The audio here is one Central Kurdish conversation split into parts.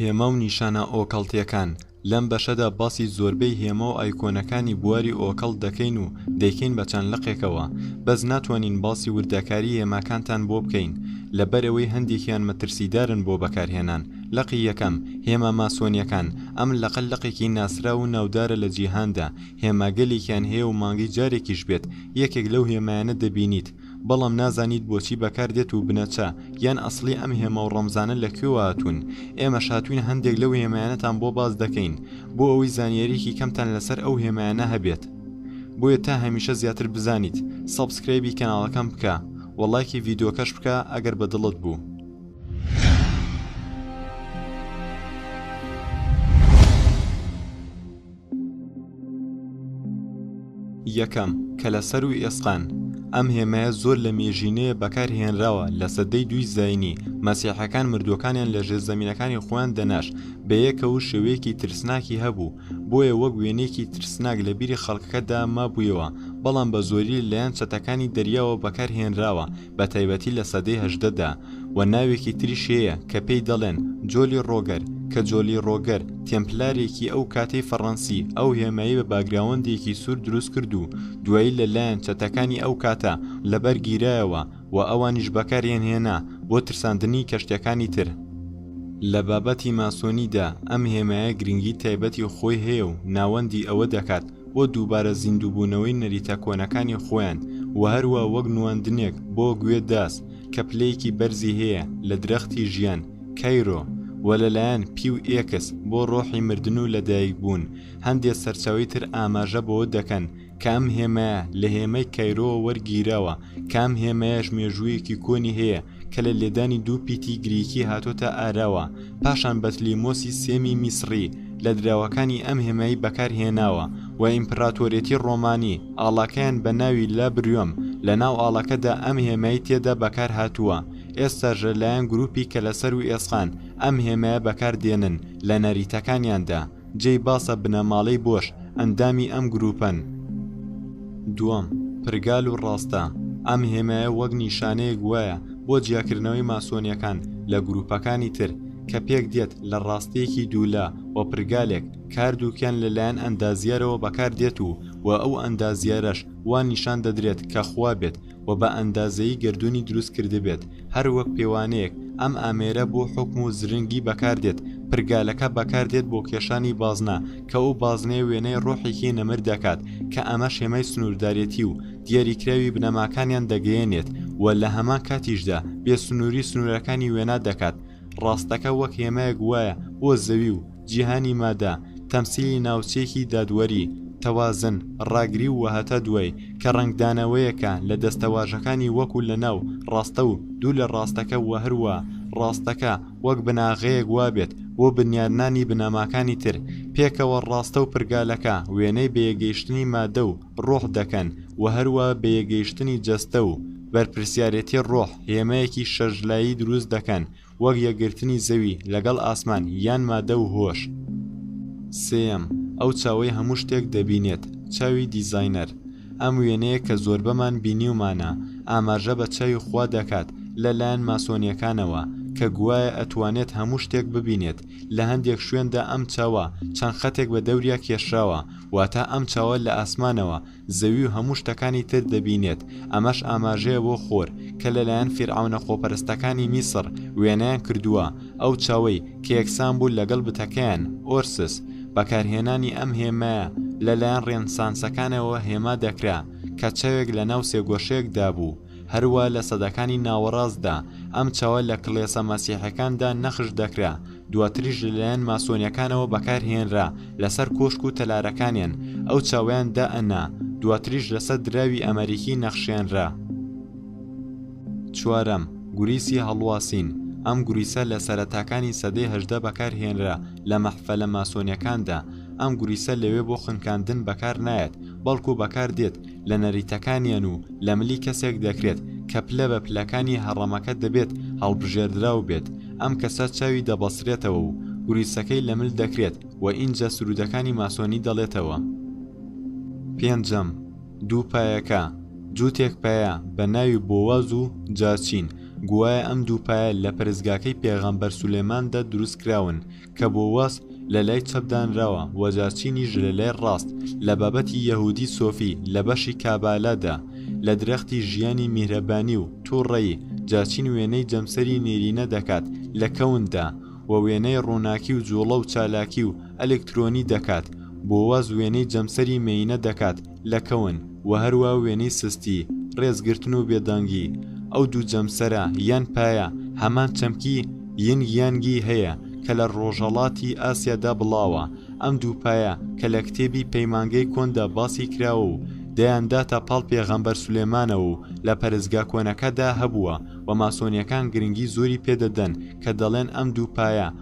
هێما و نیشانە ئۆکەڵتیەکان لەم بەشەدا باسی زۆربەی هێما و ئایکۆنەکانی بواری ئۆکەڵ دەکەین و دەیکەین بە چەند لقێکەوە بەس ناتوانین باسی وردەکاری هێماکانتان بۆ بکەین لەبەرەوەی هەندێکیان مەترسیدارن بۆ بەکارهێنان لقی یەکەم، هێما ماسۆنیەکان، ئەم لقە لقێکی ناسراو و ناودارە لە جیهاندا، هێما گەلێکیان هەیە و مانگی جارێکیش بێت یەکێک لەو هێمایانە دەبینیت، بەڵام نازانیت بۆچی بەکاردێت و بنەچە یان ئەسڵی ئەم هێما و ڕەمزانە لە کوێوە هاتوون، ئێمەش هاتووین هەندێک لەو هێمایانەتان بۆ باس دەکەین بۆ ئەوەی زانیاریەکی کەمتان لەسەر ئەو هێمایانە هەبێت، بۆیە تا هەمیشە زیاتر بزانیت سەبسکرایبی کەناڵەکەم بکە و ڵایکی ڤیدۆکەش بکە ئەگەر بە دڵت بوو. یەکەم، کەلەسەر و ئێسقان، ئەم هێمایە زۆر لە مێژینەیە بەکار هێنراوە لە سەدەی دووی زاینی، مەسیحەکان مردووەکانیان لە ژێر زەمینەکانی خۆیان دەناش بە یەکە و شێوەیەکی ترسناکی هەبوو بۆیە وەک وێنەیەکی ترسناک لە بیری خەڵکەکەدا مابوویەوە بەڵام بە زۆری لەلایەن چەتەکانی دەریاوە بەکار هێنراوە بە تایبەتی لە سەدەی هەژدە دا، و ناوێکی تریش هەیە کە پێی دەڵێن جۆلی ڕۆگەر، کە جۆلی ڕۆگەر تێمپلارێکی ئەو کاتەی فەڕەنسی ئەو هێمایەی بە باگراوەندێکی سوور دروست کرد و دوایی لە لایەن چەتەکانی ئەو کاتە لە بەر گیرایەوە و ئەوانیش بەکاریان هێنا بۆ ترساندنی کەشتیەکانی تر. لە بابەتی ماسۆنی دا ئەم هێمایە گرنگی تایبەتی خۆی هەیە و ناوەندی ئەوە دەکات بۆ دووبارە زیندووبوونەوەی نەریتە کۆنەکانی خۆیان و هەروا وەک نواندنێک بۆ گوێ داس کە پلەیەکی بەرزی هەیە لە درەختی ژیان، کەیرۆ، و لەلایەن، پیو ئێکس، بۆ ڕۆحی مردن و لەدایک بوون، هەندێ سەرچاوەی تر ئاماژە بەوە دەکەن کە ئەم هێمایە لە هێمای کەیرۆوە وەرگیراوە کە ئەم هێمایەش مێژوویەکی کۆنی هەیە کە لە لێدانی دوو پیتی گریکی هاتۆتە ئاراوە پاشان بەتلیمۆسی سێمی میسڕی لە دراوەکانی ئەم هێمای بەکارهێناوە و ئیمپراتۆرێتی ڕۆمانی ئاڵاکەیان بە ناوی لا بریۆم لە ناو ئاڵەکەدا ئەم هێمای تێدا بەکارهاتووە ئێستاش لەلایەن گروپی کەلەسەر و ئێسقان ئەم هێمایە بەکاردێنن لە نەریتەکانیاندا. جێی باسە بنەماڵەی بۆش ئەندامی ئەم گرووپەن. دووەم، پرگال و ڕاستە، ئەم هێمایە وەک نیشانەیەک وایە بۆ جیاکردنەوەی ماسۆنیەکان لە گرووپەکانی تر، کە پێک دێت لە ڕاستیەکی دوو لا و پرگالێک، کاردووکیان لە لایەن ئەندازیارەوە بەکار دێت و وە ئەو ئەندازیارەش وا نیشان دەدرێت کە خوا بێت و بە ئەندازەیی گەردوونی دروست کردبێت، هەر وەک پێوانەیەک، ئەم ئامێرە بۆ حوکم و زرنگی بەکار دێت، پرگالەکە بەکار دێت بۆ کێشانی بازنە، کە ئەو بازنەیە وێنای ڕۆحێکی نەمر دەکات، کە ئەمەش هێمای سنووردارێتی و دیاریکراوی بنەماکانیان دەگەیەنێت و لە هەمان کاتیشدا بێسنووری سنوورەکانی وێنا دەکات، ڕاستەکە وەک هێمایەک وایە بۆ زەوی و. جیهانی مادە، تەمسیلی ناوچەیەکی دادوەری، تەوازن، ڕاگری و وەهەتا دوای، کە ڕەنگدانەوەیەکە لە دەستەواژەکانی وەکو لەناو، ڕاستە و دوو لە ڕاستەکە وهەروا ڕاستەکە وەک بناغەیەک وابێت بۆ بنیادنانی بنەماکانی تر، پێکەوە ڕاستە و پرگالەکە وێنەی بەیەکگەیشتنی مادە و ڕۆح دەکەن وهەروا بەیەکگەیشتنی جەستە و بەرپرسیارێتی ڕۆح هێمایەکی شەش لایی دروست دەکەن وەک یەکگرتنی زەوی لەگەڵ ئاسمان یان مادە و هۆش. سێیەم، ئەو چاوەی هەموو شتێک دەبینێت، چاوی دیزاینەر. ئەم وێنەیە کە زۆربەمان بینیومانە، ئاماژە بە چاوی خوا دەکات لە لایەن ماسۆنیەکانەوە، کە گوایە ئەتوانێت هەموو شتێک ببینێت، لە هەندێک شوێندا ئەم چاوە چەند خەتێک بە دەوریا کێشراوە، واتە ئەم چاوە لە ئاسمانەوە زەوی و هەموو شتەکانی تر دەبینێت، ئەمەش ئاماژەیە بۆ خۆر، کە لەلایەن فیرعەونە خۆپەرستەکانی میسڕ وێنەیان کردووە، ئەو چاوەی، کە یەکسان بوو لەگەڵ بتەکەیان، ئۆرسس، بەکارهێنانی ئەم هێمایە لەلایەن ڕێنسانسەکانەوە هێما دەکرا، کە چاوێک لەناو سێگۆشەیەکدا بوو، هەروا لە سەدەکانی ناوەڕاستدا ئەم چاوە لە کڵێسە مەسیحەکاندا نەخش دەکرا دواتریش لەلایەن ماسۆنیەکانەوە بەکارهێنرا لەسەر کۆشک و تەلارەکانیان ئەو چاویان دا ئەنا دواتریش لەسەر دراوی ئەمەریکی نەخشێنرا چوارەم گوریسی هەڵواسین ئەم گوریسە لە سەرەتاکانی سەدەی هەژدە بەکارهێنرا لە مەحفەلە ماسۆنیەکاندا ئەم گوریسە لەوێ بۆ خنکاندن بەکار نایەت بەڵکو بەکار دێت لە نەریتەکانیان و لە ملی کەسێک دەکرێت کە پلە بە پلەکانی هەڕەمەکە دەبێت هەڵبژێردراو بێت، ئەم کەسە چاوی دەبەسرێتەوە و گوریسەکەی لە مل دەکرێت و ئینجا سروودەکانی ماسۆنی دەڵێتەوە. پێنجەم، دوو پایەکە، جووتێک پایە بە ناوی بۆواز و جاچین، گوایە ئەم دوو پایە لە پەرستگاکەی پێغەمبەر سولەیماندا دروست کراون کە بۆ واس لە لای چەپ دانراوە و جارچینیش لە لای ڕاست، لە بابەتی یەهوودی سۆفی لە بەشی کابالا دا، لە درەختی ژیانی میهرەبانی و تووڕەیی، جارچین وێنەی جەمسەری نێرینە دەکات لە کەون دا و وێنای ڕووناکی و جووڵە و چالاکی و ئەلکترۆنی دەکات، بۆواز وێنەی جەمسەری مێینە دەکات لەکەون، وە هەروا وێنەی سستی، ڕێزگرتن و بێدەنگی، ئەو دوو جەمسەرە یان پایە هەمان چەمکی، ینگ یانگ، ی هەیە کە لە ڕۆژهەڵاتی ئاسیادا بڵاوە، ئەم دوو پایە کە لە کتێبی پەیمانگەی کۆندا باسی کراوە و دەیانداتە پاڵ پێغەمبەر سولێمانەوە و لە پەرستگا کۆنەکەدا هەبووە و ماسۆنیەکان گرنگی زۆری پێدەدەن کە دەڵێن ئەم دوو پایە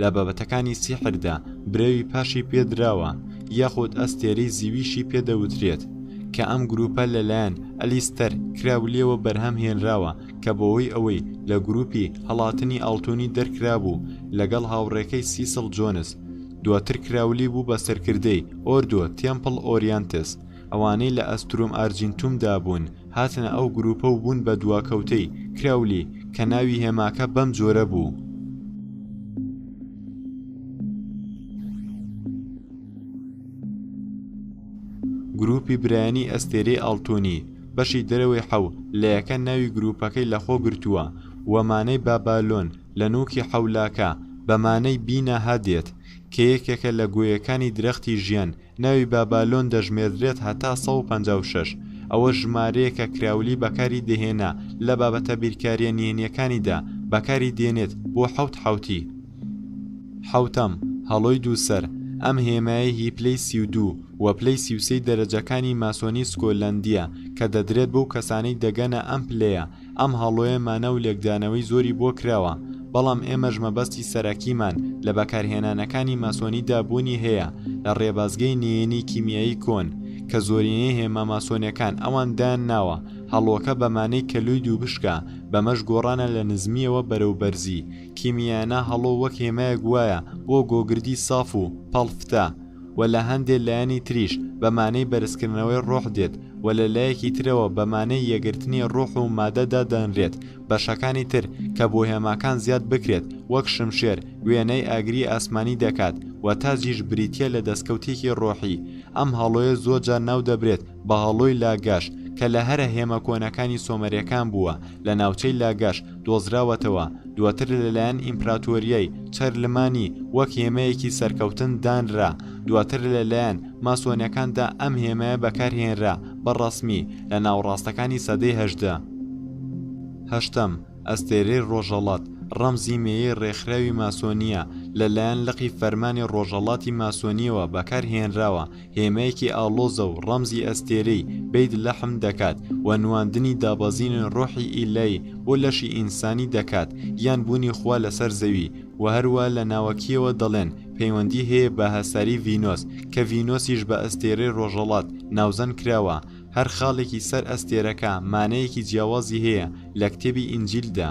لە بابەتەکانی سیحردا برەوی پاشی پێدراوە یاخود ئەستێرەی زیویشی پێدەوترێت کە ئەم گروپە لەلایەن ئەلیستەر کراولیەوە بەرهەم هێنراوە کە بەوەی ئەوەی لە گروپی هەڵاتنی ئاڵتونی دەرکرابوو لەگەڵ هاوڕێکەی سیسڵ جۆنس دواتر کراولی بوو بە سەرکردەی ئۆردۆ تێمپڵ ئۆریانتس ئەوانەی لە ئەستروم ئارجینتوم دا بوون هاتنە ئەو گرووپە و بوون بە دواکەوتەی، کراولی، کە ناوی هێماکە بەم جۆرە بوو. گرووپی برایانی ئەستێرەی ئاڵتوونی، بەشی دەرەوەی حەو لەیەکە ناوی گرووپەکەی لە خۆ گرتووە و مانای بابالۆن لە نووکی حەولاکە بە مانای بیناها دێت کە یەکێکە لە گۆیەکانی درەختی ژیان ناوی بابالۆن دەژمێردرێت هەتا سەد و پەنجا و شەش، ئەوەش ژمارەیەکە کراولی بەکاری دەهێنا لە بابەتە بیرکارییە نهێنییەکانیدا بەکاری دێنێت بۆ حەوت حەوتی، حەوتەم، هەڵۆی دوو سەر، ئەم هێمایەی هی پلەی سی و دوو و پلەی سی و سێی دەرەجەکانی ماسۆنی سکۆلەندییە کە دەدرێت بەو کەسانەی دەگەنە ئەم پلەیە ئەم هەڵۆیە مانا و لێکدانەوەی زۆری بۆ کراوە، بەڵام ئێمەش مەبەستی سەرەکیمان لە بەکارهێنانەکانی ماسۆنیدا بوونی هەیە لە ڕێبازگەی نێێنی کیمیایی کۆن کە زۆرینەی هێما ماسۆنیەکان ئەوان دایان ناوە هەڵۆکە بەمانەی کەلوی دووبشکە بەمەش گۆڕانە لە نزمیەوە بەرەو بەرزی کیمیایانە هەڵۆ وەک هێمایەک وایە بۆ گۆگردی ساف و پەڵفتە و لە هەندێ لایەنی تریش بە مانەی بەرزکردنەوەی ڕۆح دێت و لە لایەکی ترەوە بە مانەی یەکگرتنی ڕۆح و مادە دادەنرێت بەشەکانی تر کە بۆهێماکان زیاد بکرێت وەک شمشێر وێنەی ئاگری ئاسمانی دەکات و تاجیش بریتیە لە دەستکەوتێکی ڕۆحی ئەم هەڵۆیە زۆرجار ناودەبرێت بەهەڵۆی لاگەش کە لە هەرە هێمە کۆنەکانی سۆمەرەکان بووە لە ناوچەی لاگەش دۆزراوەتەوە دواتر لەلایەن ئیمپراتۆریای چەرلمانی وەک هێمەیەکی سەرکەوتن دانرا دواتر لەلایەن ماسۆنەکاندا ئەم هێمایە بەکارهێنرا بە ڕەسمی لە ناوەڕاستەکانی سەدەی هەژدە هەشتەم ئەستێرەی ڕۆژەڵات ڕەمزی مێیەی ڕێکخراوی ماسۆنییە لەلایەن لقی فەرمانی ڕۆژەڵاتی ماسۆنییەوە بەکارهێنراوە هێمایەکی ئاڵۆزە و ڕەمزی ئەستێرەی، بەیت لەحم، دەکات و نواندنی دابەزینی ڕۆحی ئیلای بۆ لەشی ئینسانی دەکات یان بوونی خوا لەسەر زەوی و هەروا لە ناوەکییەوە دەڵێن پەیوەندی هەیە بە هەساری ڤینۆس کە ڤینۆسیش بە ئەستێرەی ڕۆژەڵات ناوزەند کراوە هەر خاڵێکی سەر ئەستێرەکە مانایەکی جیاوازی هەیە لە کتێبی ئینجیلدا.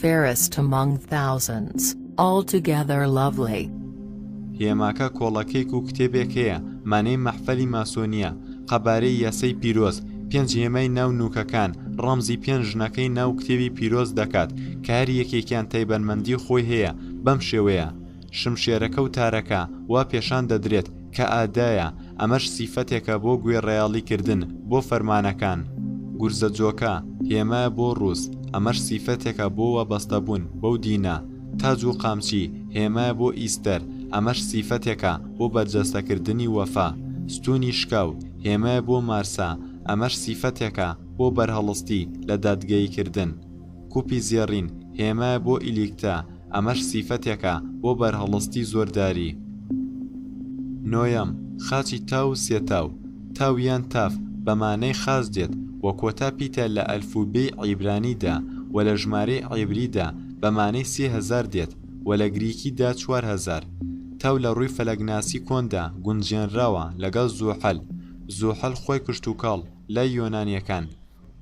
Fairest among thousands, altogether lovely. هێماکە کۆڵەکێک و کتێبێک هەیە مانەی مەحفەلی ماسۆنییە، قەبارەی یاسای پیرۆز، پێنج هێمای ناو نووکەکان ڕەمزی پێنج ژنەکەی ناو کتێبی پیرۆز دەکات کە هەر یەکێکیان تایبەتمەندی خۆی هەیە بەم شێوەیە، شمشێرەکە و تارەکە، وا پێشان دەدرێت کە ئادایە، ئەمەش سیفەتێکە بۆ گوێڕایەڵی کردن بۆ فەرمانەکان. گورزە جۆکە، هێمایە بۆ ڕووس، ئەمەش سیفەتێکە بۆ وابەستەبوون بەو دینە. تاج و قامچی، هێمایە بۆ ئیستەر، ئەمەش سیفەتێکە بۆ بەرجەستەکردنی وەفا. ستوونی شکاو، هێمایە بۆ مارسا، ئەمەش سیفەتێکە بۆ بەرهەڵستی لە دادگەییکردن. کوپی زێڕین، هێمایە بۆ ئیلیکتا، ئەمەش سیفەتێکە بۆ بەرهەڵستی زۆرداری. نۆیەم، خاچی تاو و سێتاو، تاو یان تاف، بە مانای خاچ دێت و کۆتا پیتە لە ئەلفوبێی عیبرانی دا و لە ژمارەی عیبری دا بە مانای سێ هەزار دێت و لە گریکی دا چوار هەزار. تاو لە ڕووی فەلەکناسی کۆن دا گونجێنراوە لەگەڵ زوحەل. زوحەل خۆی کشتوکاڵ لای یۆنانییەکان.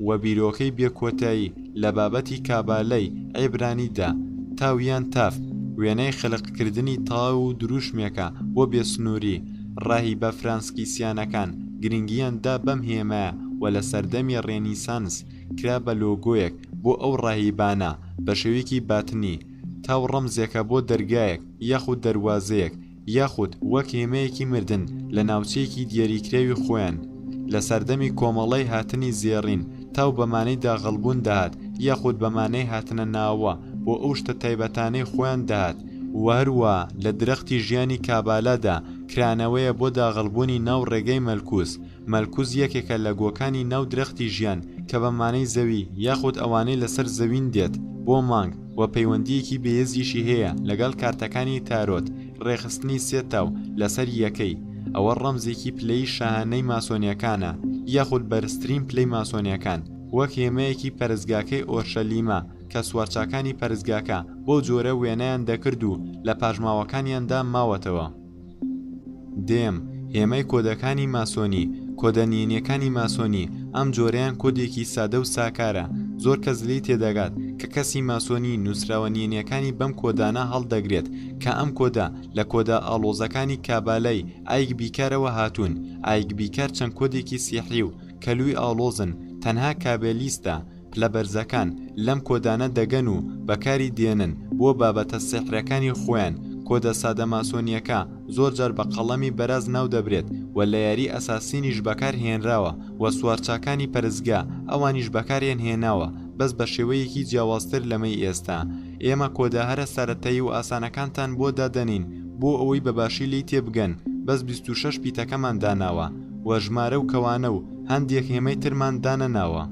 و بیرۆکەی بێ کۆتایی لە بابەتی کابالەی عیبرانی دا، تاو یان تاف، وێنای خەلق کردنی تاو و دروشمێکە بۆ بێ سنووری، ڕاهیبە فرانسکیسیانەکان گرنگییان دا بەم هێمایە و لە سەردەمی ڕێنیسانس کرا بە لۆگۆیەک بۆ ئەو ڕاهیبانە، بە شێویکی باتنی، تاو ڕەمزێکە بۆ دەرگایەک یاخود دەروازەیەک، یاخود وەک هێمەیەکی مردن لە ناوچەیەکی دیەریکراوی خۆیان، لە سەردەمی کۆمەڵەی هاتنی زێڕین تاو بە مانەی داغڵبوون دەهات یاخود بە مانەی هاتنە ناوە بۆ ئەو شتە تایبەتانەی خۆیان دەهات، و هەروا لە درەختی ژیانی کابالا دا کرانەوەیە بۆ داغڵبوونی ناو ڕێگای مەلکوس، مەلکوز یەکێکە لە گۆکانی ناو درەختی ژیان کە بە مانەی زەوی یاخود ئەوانەی لەسەر زەوین دێت بۆ مانگ و پەیوەندییەکی بێێزیشی هەیە لەگەڵ کارتەکانی تارۆت ڕێکخستنی سێ تاو لەسەر یەکەی ئەوە ڕەمزێکی پلەی شاهانەی ماسۆنیەکانە یاخود بەرزترین پلەی ماسۆنیەکان وەک هێمایەکی پەرستگاکەی ئۆرشەلیمە کە سوارچاکانی پەرستگاکە بەو جۆرە وێنایان دەکرد و لە پاژماوەکانیاندا ماوەتەوە. دێم، هێمای کۆدەکانی ماسۆنی، کۆدە نهێنیەکانی ماسۆنی، ئەم جۆرەیان کۆدێکی سادە و ساکارە، زۆر کەس لێی تێدەگات، کە کەسی ماسۆنی نوسراوە نهێنیەکانی بەم کۆدانە هەڵدەگرێت، کە ئەم کۆدە لە کۆدە ئاڵۆزەکانی کابالای ئایک بیکارەوە هاتوون، ئایک بیکار چەند کۆدێکی سیحری و کەلوی ئاڵۆزن، تەنها کابالیستە، پلە بەرزەکان لەم کۆدانە دەگەن و بەکاری دێنن بۆ بابەتە سیحرەکانی خۆیان، کۆدە سادە ماسۆنییەکە زۆر جار بە قەڵەمی بەراز ناو دەبرێت و لە یاری ئەساسینیش بەکار هێنراوە و سوارچاکانی پەرستگا ئەوانیش بەکاریان هێناوە بەس بە شێوەیەکی جیاوازتر لەمەی ئێستا ئێمە کۆدە هەرە سەرەتایی و ئاسانەکانتان بۆ دادەنین بۆ ئەوەی بە باشی لێی تێبگەن بەس بیست و شەش پیتەکەمان داناوە و ژمارە و کەوانە و هەندێک هێمەی ترمان دانەناوە.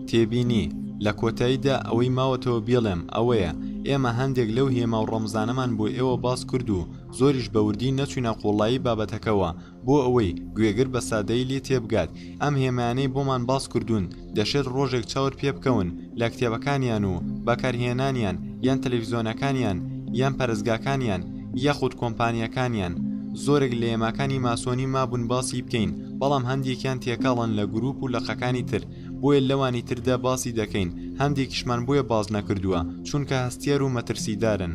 تێبینی، لە کۆتاییدا ئەوەی ماوەتەوە بیڵێم ئەوەیە، ئێمە هەندێک لەو هێما و ڕەمزانەمان بۆ ئێوە باس کرد و زۆریش بە وردی نەچووینە قووڵایی بابەتەکەوە بۆ ئەوەی گوێگر بە سادەیی لێ تێبگات، ئەم هێمایانەی بۆمان باس کردوون، دەشێت ڕۆژێک چاور پێبکەون لە کتێبەکانیان و بەکارهێنانیان یان تەلەفیزۆنەکانیان یان پەرستگاکانیان یاخود کۆمپانیاکانیان زۆرێک لە یەماکانی ماسۆنی مابون باسی بکەین بەڵام هەندێکیان تێکەڵن لە گروپ و لقەکانی تر بۆیە لەوانی تردا باسی دەکەین هەندێکیشمان بۆیە باس نەکردووە چونکە هەستیار و مەترسیدارن.